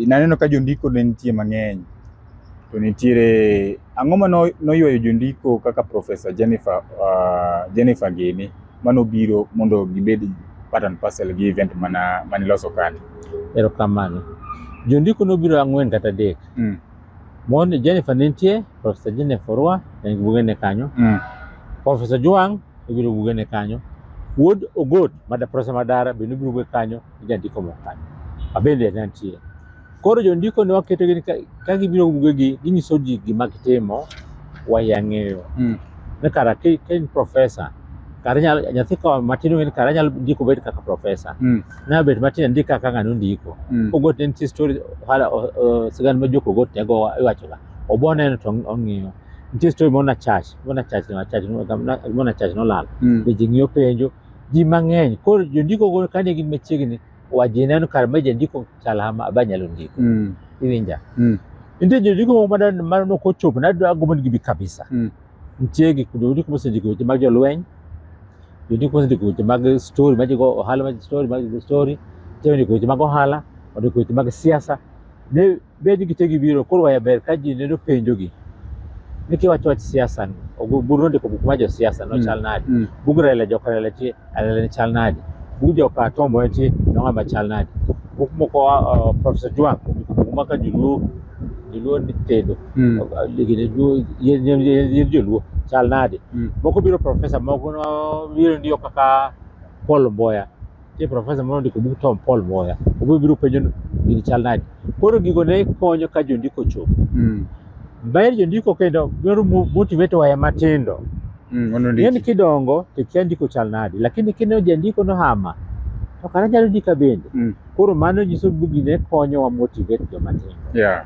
Naneno ka jondiko ne nitie mang'eny to nitiere ang'o ma noywayo jondiko kaka Profesa Jennifer, uh, Jennifer Gini manobiro mondo gibed part and parcel gi event mana maniloso kani? Erokamano. Jondiko nobiro ang'wen kata adek. Mm. Mon Jennifer ne nitie, Profesa Jennifer Orwa en gi bugene kanyo. Mm. Profesa Juang' ibiro bugene kanyo. Wuod Ogot, Mada Profesa Madara bende ibiro buge kanyo. jandiko moko kanyo. Abende ne antie. Koro jondiko ne waketo gini ka, ka gibiro bugegi ginyiso ji gima gitimo wayang'eyo. Mm. Ne kara ka ka in profesa kara nyalo nyathi ka matin ong'e ni kara nyalo ndiko bet kaka profesa. Mm. Na bet matin ndik kaka ng'ano ndiko. Mm. Ogot ne nitie story hala o- o- sigand ma joko ogot ne go iwachoga. Obo neno to ong'iyo. Nitie story moro na chach, moro na chach na chach moro na chach nolal. Mm. Be ji ng'iyo penjo ji mang'eny koro jondiko go kane gin machiegni waji neno kar ma jandiko chalama aba nyalo ndiko Mm. iwinja Mm. nitie jondiko moko mada mano nok ochopo nagombo ni gibi kabisa Mm. nitie gik jondiko mosendiko weche mag jolweny jondiko mosendiko weche mag story majigo ohala mag story mag story nitie jondiko weche mag ohala ondiko weche mag siasa ne bed gitegi biro koro waya ber ka ji neno penjogi ni kiwacho wach siasa ni ogu- buru nondiko buk ma josiasa no Mm. chal nade Mm. bug rele jok rele ti rele ni chal nade bug jok atombo ti nonga ma chal nade buk moko uh, professor Juang ondiko buk maka joluo joluo ni tedo Mm. ligine joluo yen yen yen yen joluo chal nade Mm. moko biro professor moko no biro ndio kaka Paul Mboya nitie profesa moro ndiko bug Tom Paul Moya, obiro biro penjo ni gini chal nade. Koro gigo ne konyo ka jondiko chopo. Mm. Ber jondiko kendo biro mo- motivate waya matindo. Mm. Ono Ng'eni ndiki. kidongo to kia ndiko chal nade, lakini kineno jandiko nohama to kara nyalo ndika bende. Mm. Koro mano nyiso ni bugi ne konyowa motivate joma tindo. Yeah.